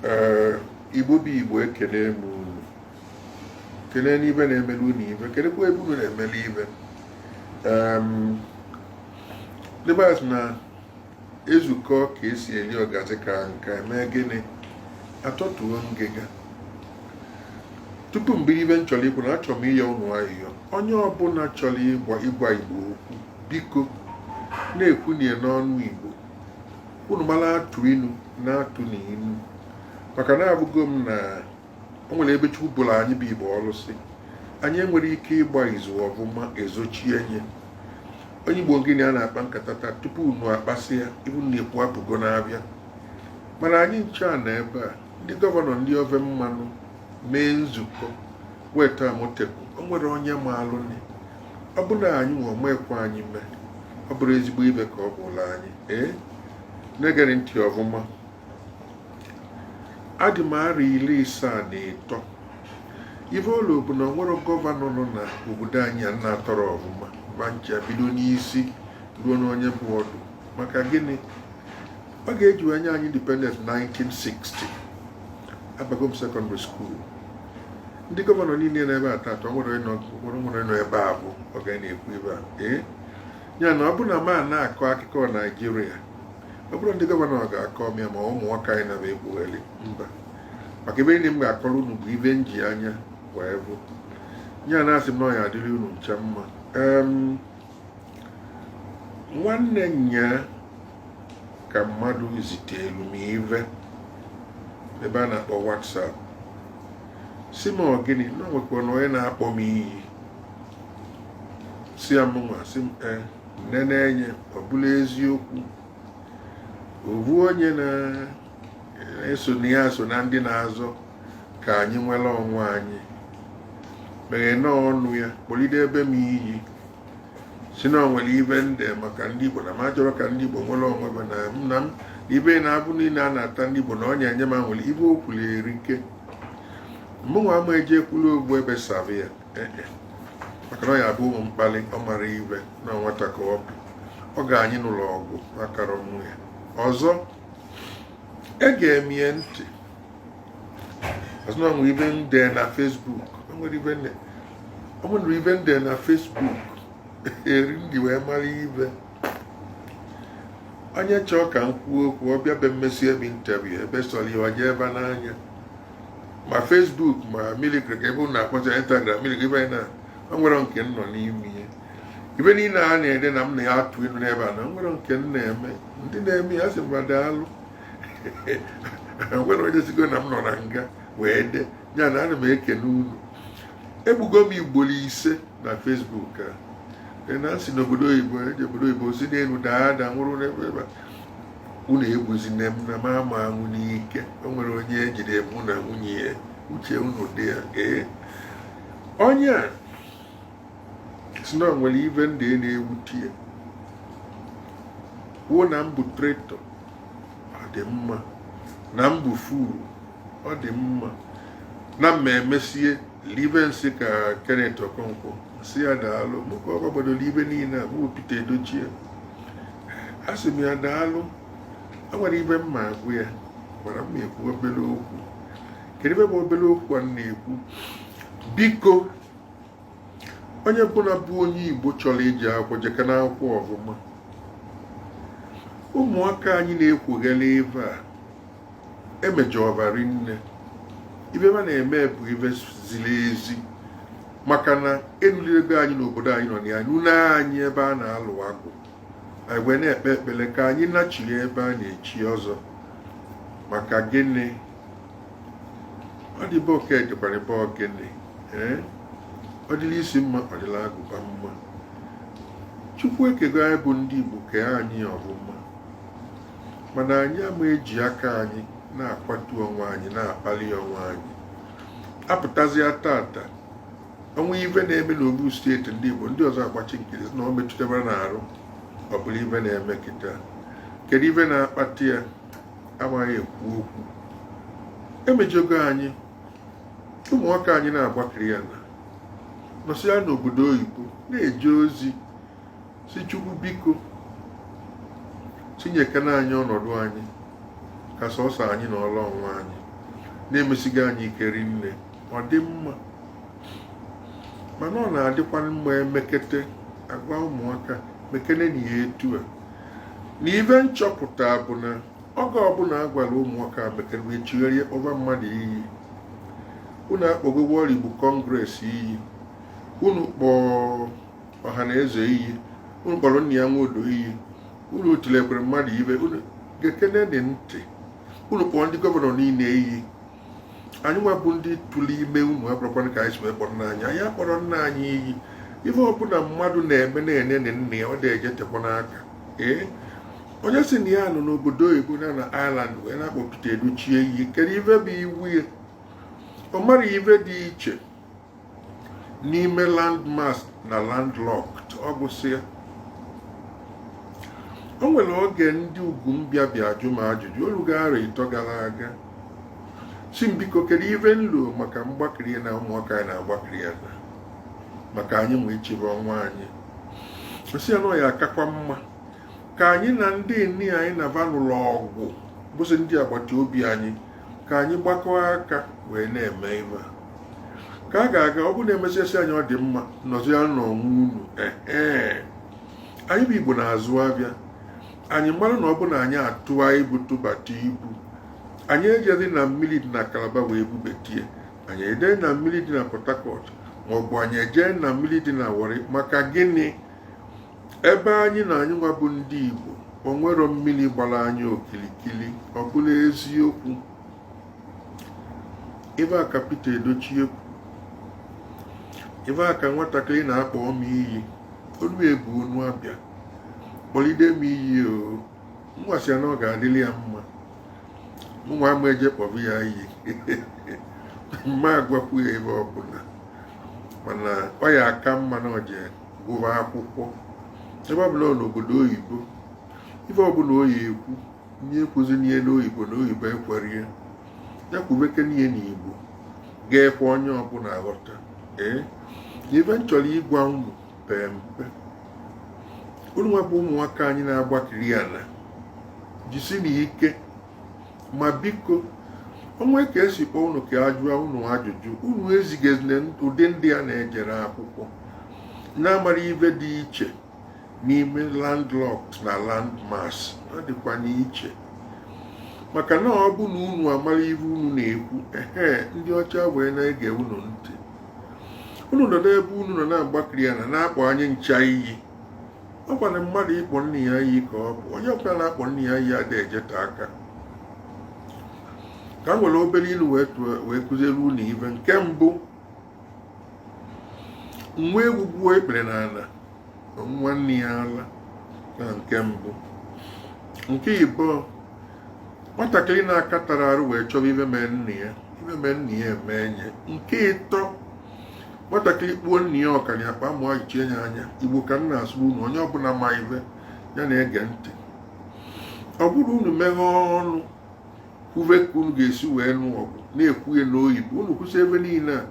ee igbo bụ igbo ekenee m unu kenee n'ibe na-emele unu ive kenekwa ebe unu na-emele ive ndị be anyị sị na ezukọ ka esi eli ọgazi ka nka eme gịnị atọtuo ngịga tupu m bido ive m chọrọ ikwu na achọrọ m ịyọ unu ayịyọ onye ọbụla chọrọ ịgwa igbo okwu biko na-ekwunye n'ọnụ igbo unu mara atụ inu na-atụ n'inu maka na avụgo m na o nwere ebe chukwu bụrụ anyị bụ igbo ọnụ sị anyị enwere ike ịgba izu ọvụma ezochie nye onye igbo gịnị a na-akpa nkata tata tupu unu akpasị ya ive unu na-ekwu apụgo n'avịa mana anyị ncha nọ ebe a ndị gọvanọ ndị ove mmanụ mee nzukọ weta amotekun o nwere onye malụ ọ bụrụ na anyị nwa mekwa anyị mee ọ bụrụ ezigbo ive ka ọ bụlụ anyị ee na-egere ntị ọvụma adị m arọ iri isaa na ịtọ ive ụlọ bụ na o nwere gọvanọ nọ na obodo anyị a m na-atọrọ ọvụma va ncha bido n'isi ruo n'onye bụ ọdụ maka gịnị oge e ji wee nye anyị independent 1960 abago m sekọndịrị skuul ndị gọvanọ niile nọ ebe a tata o nwere onye nọ- nwere nwere nọ ebe a bụ oge m na-ekwu ebe a ee ya na ọ bụrụ na m na-akọ akụkọ naijiria ọ bụrọ ndị gọvanọ ga-akọ m ya ma ụmụ nwoke anyị na-ekwugheli mba maka ive niile m ga-akọrọ unu bụ ive m ji anya wee vụ ya na asị m na ọ ya adịrị unu ncha mma Em, nwanne nya ka mmadụ zitelu m ive ebe a na-akpọ WhatsApp sị m ọ gịnị na o nwekwanụ onye na-akpọ m iyi sị ya mụnwa sị m e nenee anya ọ bụlụ eziokwu ovu onye na-asị na ya so na ndị na-azọ ka anyị nwere onwe anyị meghe na ọnụ ya kpọlidebe m iyi sị na o nwere ive m dee maka ndị Igbo na m achọrọ ka ndị Igbo nwere onwe ve na m na m ive na avụvụ niile a na-ata ndị Igbo na ọ na-enye m aṅụlị ive o kwuru erika mụnwa ama eji ekwuru okwu ebe savụ ya eh, eh. maka na ọ ya bụ ụmụ mkpali ọ mara ive na nwata ka ọ bụ ọ ga-anyị n'ụlọ ọgwụ akara ọnwụ ya ọzọ ege m ya ntị a sị na o nwere ive m dee na Facebook o nwere ive m dee o nwere ive m dee na Facebook eri ndị wee mara ive onye chọọ ka m kwuo okwu ọ bịa be m mesịa ebe interview ebe sọrọ ya o jee webanye ma Facebook ma imilikiti ka ive ụnụ akpọcha Instagram imilikiti ive na o nwere nke m nọ n'ime ive ive niile a na-ede na m na ya atụ elu n'ebe a na o nwere nke m na-eme ndị na-eme ya sị m va daalụ nwere onye sịgo na m nọ na nga wee de ya na ana m ekene unu egbugo m ugboro ise na Facebook a e na si n'obodo oyibo eji e obodo oyibo si n'elu daa ada nwụrụ n'ebe ebe unu egbuzina m na m ama anwụ n'ike o nwere onye jide mụ na nwunye ya uche unu dị ya ee onye a sị na o nwere ife m dere na-ewute ya kwuo na m bụ traitor ọ dị mma na m bụ fool ọ dị mma na m emesie libe nsị ka Kenneth Okonkwo m sị ya daalụ mụ ka ọ gbadoro ife niile a mụ Peter Edochie a sị m ya daalụ enwere ife m ma agwa ya ara m ekwu obere okwu kedu ife bụ obere okwu a na-ekwu biko onye ọbụna bụ onye igbo chọrọ ije akwụkwọ jekene akwụkwọ ọfụma ụmụaka anyị na-ekwughela ife a emejọba rinne ife ha na-eme abụghị ife ziri ezi maka na enulirego anyị n'obodo anyị nọ na ya nunye anyị ebe a na-alụ agwụ anyị wee na-ekpe ekpere ka anyị nachiri ebe a na-echi ọzọ maka gịnị ọ dị be oke dịkwara be ogini ee ọ dịla isi mma ọ dịla agụba mma chukwu ekego anyị bụ ndị igbo kee anyị ọfụma mana anyị ama eji aka anyị na-akwatu onwe anyị na-akpali onwe anyị apụtazịa tata o nwee ife na-eme n'ofu steeti ndị igbo ndị ọzọ agbachi nkịtị na ọ metụtara n'arụ ọ bụrụ ife na-eme kịta kedu ife na-akpata ya amaghị ekwu okwu emejọgo anyị ụmụaka anyị na-agbakiri ya na nọsịa n'obodo oyibo na-eje ozi sị chukwu biko tinyekene anyị ọnọdụ anyị ka sọsọ anyị na ọla ọnwa anyị na-emesiga anyị ike rinne ọ dị mma mana ọ na-adịkwa mma emekete agwa ụmụaka mekenenụ ya etu a na ife m chọpụta bụ na oge ọbụla a gwara ụmụaka mekene wee chigharịa kpọba mmadụ iyi unu akpọgo World Igbo Congress iyi unu kpọọ Ohanaeze iyi unu kpọrọ Nnia Nwodo iyi unu tilikwara mmadụ ife unu gekenenụ ntị unu kpọọ ndị gọvanọ niile iyi anyị nwa bụ ndị tụrụ ime unu abụrọkwanụ ka anyị si wee kpọrọ nna anyị anyị akpọrọ nna anyị iyi ife ọbụla mmadụ na-eme nne ya na nna ya ọ na-eje tekwanụ aka ee onye sị na ya nọ n'obodo oyibo na na Ireland wee na-akpọ Peter Edochie iyi kedu ife bụ iwe ya ọ mara ife dị iche n'ime landmass na landlocked ọ gwụsịa o nwere oge ndị ugwu bịa bịa jụọ m ajụjụ olugo arọ ịtọ gara aga sị m biko kedu ife m lo maka mgbakiri ana ụmụaka anyị na-agbakiri ana maka anyị ma ichebe onwe anyị sị ya na ọ ya-akakwa mma ka anyị na ndị ni anyị na va nụlụ ọgụ bụzi ndị agbata obi anyị ka anyị gbakọọ aka wee na-eme ive ka a ga-aga ọ bụ na emesịa sị anyị ọ dị mma nọzia n'onwe unu ee anyị bụ igbo na-azụ avịa anyị mara na ọ bụ na anyị atụa ibu tụbata ibu anyị ejeghị na mmiri dị na calabar wee bubate ya anyị ejee na mmiri dị na port harcourt maọbụ anyị ejee na mmiri dị na warri maka gịnị ebe anyị nọ anyị nwa bụ ndị Igbo o nwerọ mmiri gbara anyị okirikiri ọ bụlụ eziokwu ive a ka Peter Edochie kwu ive a ka nwatakịrị na-akpọ m iyi unu ebu ọnụ abịa kpọlide m iyi o mụwa sị ya na ọ ga-adịrị ya mma mụnwa ama eje kpọbụ ya iyi m ma agwakwu ya ive ọbụla mana ọ ya-aka mma na o jee gụba akwụkwọ ebe ọbụla n'obodo oyibo ife ọbụla ọ ya-ekwu nya ekwuzina ya n'oyibo na oyibo ekwerọ ya ya kwubekene ya n'igbo ga-ekwe onye ọbụla aghọta ee ife m chọrọ ịgwa unu pee mpe unu nwa bụ ụmụaka anyị na-agbakiri ana jisinụ ike ma biko o nwee ka e si kpọọ unu ka a jụọ unu ajụjụ unu ezigazie ụdị ndị a na-ejere akwụkwọ na-amara ive dị iche n'ime landlocked na landmass ọ dịkwa n'iche maka na ọ bụ na unu amara ive unu na-ekwu ehe ndị ọcha wee na-ege unu ntị unu nọdụ ebe unu nọ na-agbakiri ana na-akpọ anyị ncha iyi ọ kwanụ mmadụ ịkpọ nna ya iyi ka ọ bụ onye ọbụla na-akpọ nna ya iyi adịghị ejeta aka ka m were obere inu wee kuziere unu ive nke mbụ nwa ewu gbuo ikpere n'ana ṅụa nne ya ala ọ nke mbụ nke ịbụọ nwatakịrị na-akatarọ arụ wee chọọ ive mee nna ya ive mee nna ya emee nya nke ịtọ nwatakịrị kpuo nna ya ọka na akpa amụ ayọchie ya anya igbo ka m na-asụ unu onye ọbụla ma ive ya na-ege ntị ọ bụrụ unu meghe ọnụ kwuve ka unu ga-esi wee nụọ ọgụ na-ekwu ya n'oyibo unu kwusịa ive niile a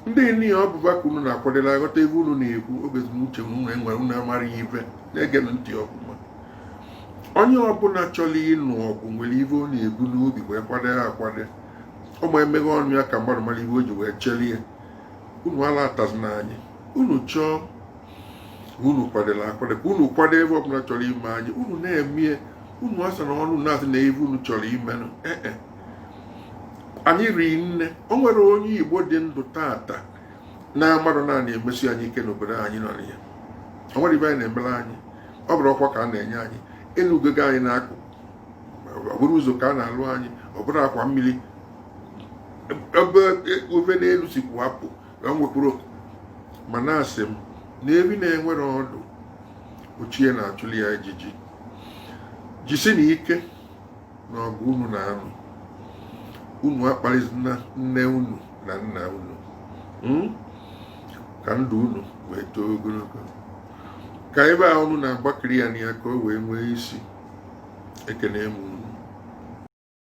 ndị ni ọ bụ va ka unu na-akwadolu aghọta ive unu na-ekwu ọ bụrụ unu amara ive na-ege ntị ọfụma onye ọbụla chọrọ ịnụ ọgụ nwere ive ọ na-ebu n'obi wee kwado ya akwado ọ ma emeghe ọnụ ya ka mmadụ mara ife o ji wee chere ya unu ala atazina anyị unu chọọ unu kwadere akwado ka unu kwado ife ọbụla chọrọ ime anyị unu na-eme unu asa na ọnụ na-asị na ife unu chọrọ imenụ ee eh, eh. anyị ri nne o nwere onye igbo dị ndụ tata na-amarọ na a na-emesi anyị ike n'obodo anyị nọ ya o nwere ife anyị na-emere anyị ọ bụrụ ọkwa ka a na-enye anyị enugogo anyị n'akụkụ ọ bụrụ ụzọ ka a na-alụ anyị ọ bụrụ akwa mmiri ebe ofe n'elu si kwapụ enwekwuru mana asị m na efi na-enwerọ ọdụ ọ chi ya na-achụli ya ijiji jisinụ ike na ọgụ unu na-anụ unu akparịzina nne unu na nna unu hmm? ka ndụ unu wee too ogologo ka ife a unu na-agbakiri ya na ya ka o wee nwee isi ekene m